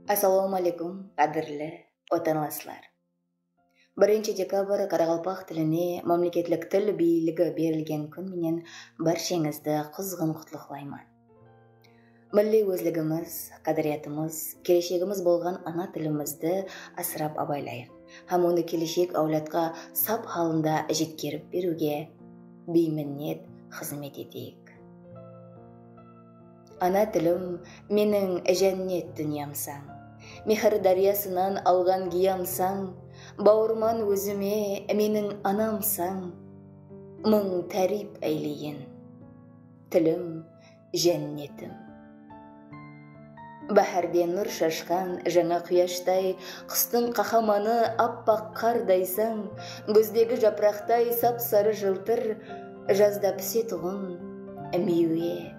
Assalawma aleykum qádirli watanlaslar! Birinshi dekabr qaraqalpaq tiline mámleketlik til biyiligi berilgen kún menen bársheńizdi quzǵın qutlıqlayman. Milliy ózligimiz, qádiriyatımız, keleshegimiz bolǵan ana tilimizdi asırap abaylayıq hám onı keleshek áwladqa sap halında jetkerip beriwge biyminnet xızmet eteyik. Ana tilim, meniń jánnet dúnyamsań, Mehir dáryasınan alǵan giyamsań, Bawırman ózime, meniń anamsań, Mıń táriyp áyleyin, tilim, jánnetim. Báhárde nur shashqan jańa quyashtay, Qustıń qahamanı appaq qardaysań, Gúzdegi japıraqtay sap-sarı jıltır, Jazda pisetuǵın miywe.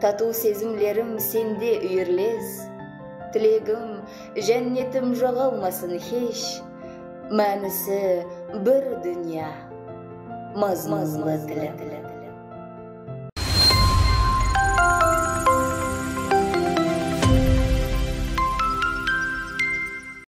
Tatıw sezimlerim sende úyirles, Tilegim, jánnetim joǵalmasın hesh, Mánisi bir dúnya, mazmunlı tilim.